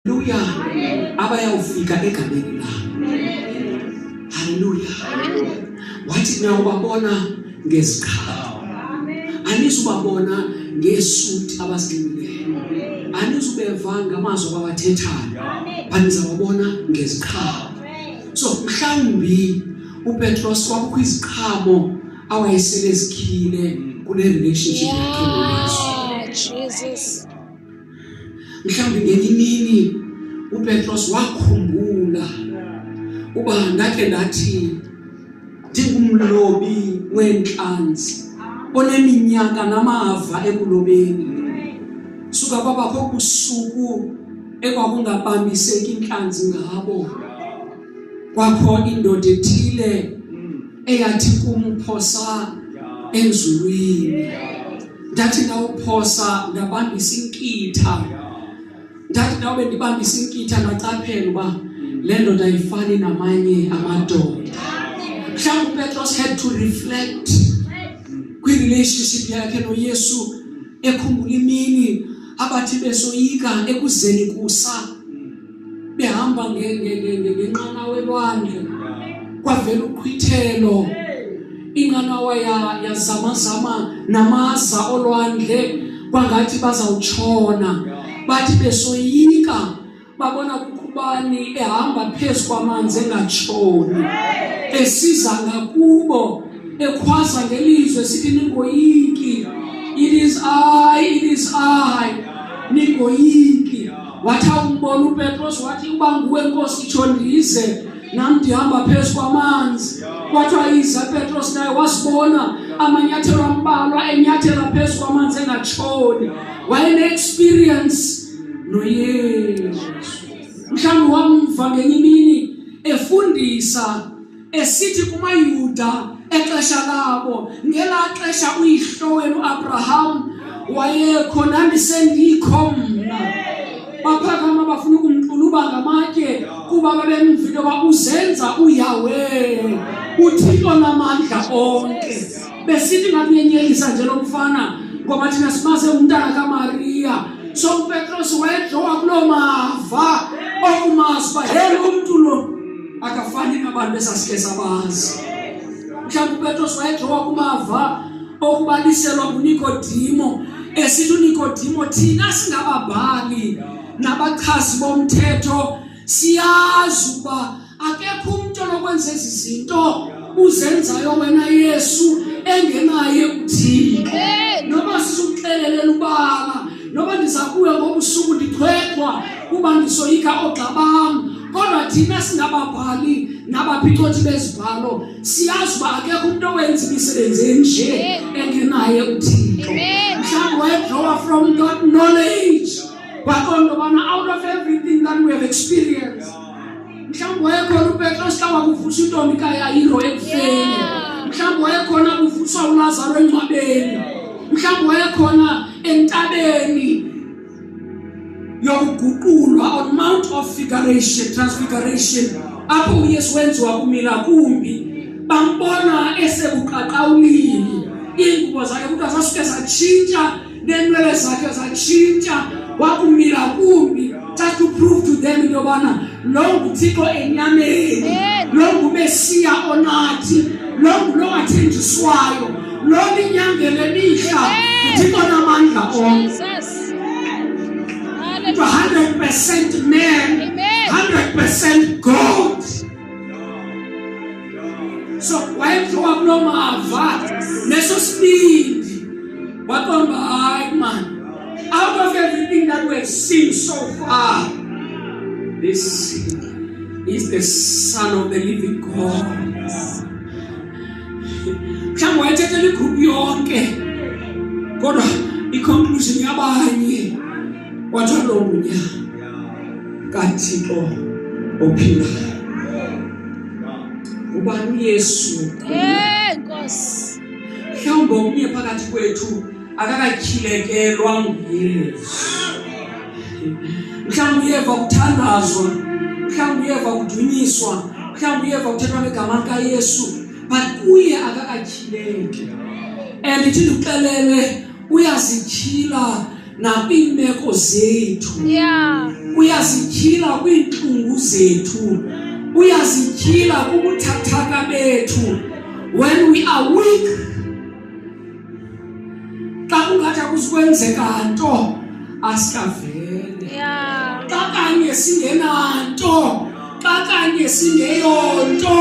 Haleluya. Aba yawufika egameni lakho. Haleluya. Wathi niyawubabona ngeziqhalo. Anizubabona ngesuti abazinxibileyo. Anizubeva ngamazwi abawathethayo. Anizawabona ngeziqhalo. So mhlawumbi uPetros kwakukho iziqhamo awayesele zikhile kule relationship yakhe noYesu. Jesus. mhlawumbi ngenye imini upetros wakhumbula uba ndakhe ndathi ndingumlobi weentlanzi oneminyaka namava ekulobeni suka kwabakho kusuku ekwakungabambiseki intlanzi ngabo kwakho indoda ethile eyathi kumphosa enzulwini ndathi ndawuphosa ndabamba isinkitha ndathi nawe bendibamba isinkitha ngaqaphela uba le ndoda ayifani namanye amadoda mhlawumbi upetros had to reflect kwi-relationship yakhe noyesu ekhumbula imini abathi besoyika ekuzeni kusa behamba ngenqanawa elwandle kwavela uqhwithelo inqanawa yazamazama namaza olwandle kwangathi bazawutshona bathi besoyika babona kukubani ehamba phezu kwamanzi engatshoni esiza ngakubo ekhwaza ngelizwe sithi ningoyiki it is i it is i ningoyiki wathi awumbona upetros wathi uba nguwe nkosi itsho ndize nam ndihamba phezu kwamanzi kwathiwa iza petros naye wasibona amanyathelo ambalwa enyathela phezu kwamanzi engatshoni wayene-experience noyesu mhlawumbi wamva ngenye imini efundisa esithi kumayuda exesha labo ngelaa xesha uyihlo wenu abraham wayekho nandisendikho mna baphakama bafuna ukumquluba ngamatye kuba babemvile uba uzenza uyawe uthixo namandla onke besithi ngakunyenyelisa nje lo mfana ngoba thina simaze umntana kamariya so upetros wayedlowa kuloo mava okumazi uba yena umntu lo akafani nabantu esasike sabazi mhlawumbi upetros wayejowa kumava okubaliselwa ngunikodimo esithi unikodimo thina singababhali nabachazi bomthetho siyazi ukuba akekho umntu onokwenza ezi zinto uzenzayo wena yesu engenaye uthixo noba sisukuxelelela ubala noba ndiza kuya ngobusuku ndithwethwa kuba ndisoyika ogxa bam kodwa thina singababhali nabaphicothi bezibhalo siyazi uba akekho umntu owenza imisebenzi enje engenaye uthixo mhlawumbi wayedrawa from that knowledge kwaqonda ubana out of everything that we have experienced mhlawumbi wayekhona upetros xa wakuvusa intombi kayayiro ekufeni mhlawumbi wayekhona kuvuswa ulazaro engcwabeni mhlawumbi wayekhona entabeni yokuguqulwa on mount of figuration transfiguration apho uYesu wenziwa kumila kumbi bambona esebuqaqawulile ingubo zakhe kuthi asasuke satshintsha nenwele zakhe zatshintsha wakumila kumbi just to prove to them into yobana Lo nguThixo enyameni. Lo nguMesiya onathi. Lo ngulo wathenjiswayo. Lo linyangele mihla. Thixo namandla onke. Into 100% man, 100% God. So wayemthiwa kuloo mava neso sibindi waqonda hayi mani Out of everything that we have seen so far, this is the Son of the Living God. mhlawumbi wayethethela igruphu yonke kodwa iconclusion yabanye wathiwa lo ngunya kathixo ophilayo ubani uyesu nkosi mhlawumbi omnye phakathi kwethu akakatyhilekelwa nguyesu mhlawumbi uyeva kuthandazwa mhlawumbi uyeva kudunyiswa mhlawumbi uyeva kuthethwa ngegama likayesu but kuye akakatyhileki and ithi ndikuxelele uyazityhila nakwiimeko zethu uyazityhila kwiintlungu zethu uyazityhila kubuthathaka bethu when we are weak xa kungathi akusikwenzeka nto asikavele xa kanye singenanto xa kanye singeyonto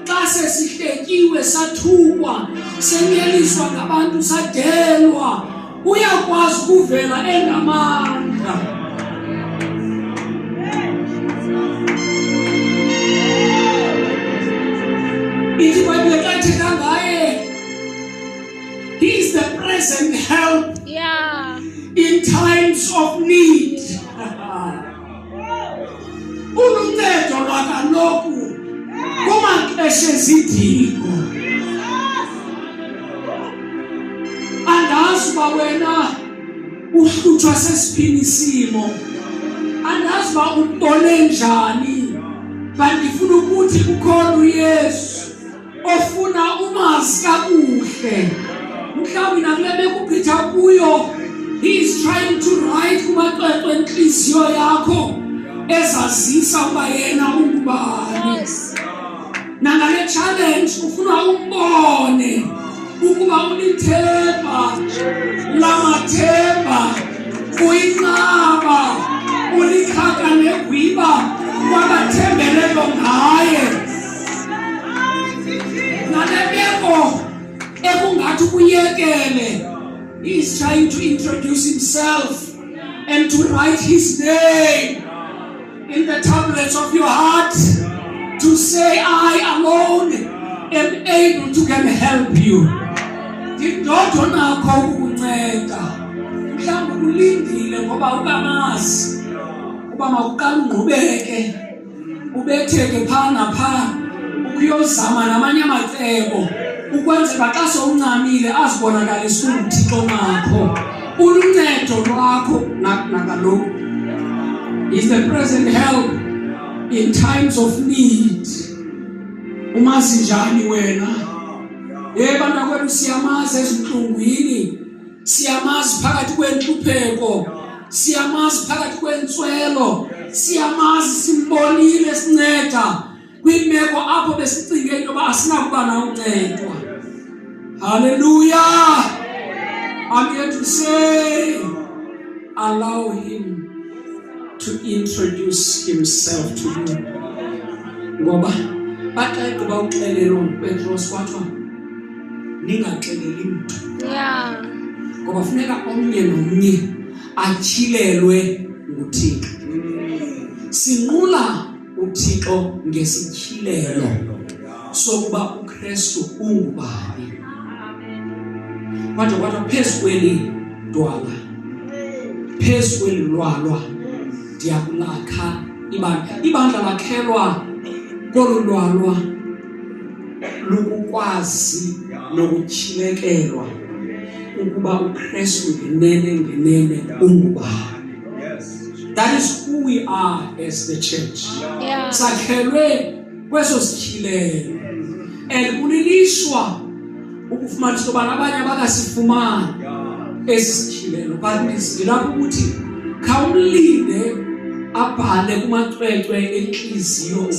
xa sesihletyiwe sathukwa senyeliswa ngabantu sadelwa uyakwazi ukuvela engamandla He is the present help yeah. in times of need. Uluncedo lwakaloku kumaxesha ezidingo. Andazi uba wena uhlutshwa sesiphini isimo. Andazi uba utole njani. Bandifuna ukuthi kukhona uYesu. ofuna umazi kakuhle mhlawumbi nakule bekuphetha kuyo he is trying to write kumaxwexwe entliziyo yakho ezazisa uba yena ungubani yes. nangale challenge ufuna umbone ukuba ulithemba lamathemba uyinqaba ulikhaka negwiba kwabathembelelo ngaye nale meko ekungathi ukuyekele he's trying to introduce himself and to write his name in the tablets of your heart to say i alone am able to can help you ndidodwa nakho ukukunceda mhlawumbi ulindile ngoba ukamazi uba mawuqala ungqubeke ubetheke phaa naphaa ukuyozama namanye amacebo ukwenzela xa sowuncamile azibonakalise unguthixo nakho uluncedo lwakho nakaloku is the present help in times of need umazi njani wena ye banakwethu siyamazi ezintlungwini siyamazi phakathi kwentlupheko siyamazi phakathi kwentswelo siyamazi simbonile sinceda kwimeko apho besicinge into yoba asinakuba na uncedwa halleluya i'm here to say allow him to introduce himself to you ngoba bathi ayigqiba uxelelo upetros kwathiwa ningaxeleli mntu ngoba funeka omnye nomnye atyhilelwe nguthixo sinqula uthixo ngesityhilelo sokuba ukristu ungubani kwade kwathiwa phezu kweli dwala phezu kweli lwalwa ndiyakulakha ibandla ibandla lakhelwa kolu lwalwa lukukwazi nokutyhilekelwa ukuba uKristu ngenene ngenene ungubani that is who we are as the church yeah. sakhelwe kweso sityhilelo and kulilishwa ukufumanisa ubana abanye abakasifumani esi sityhilelo but ndilapho ukuthi khawumlinde abhale kumacwecwe entliziyo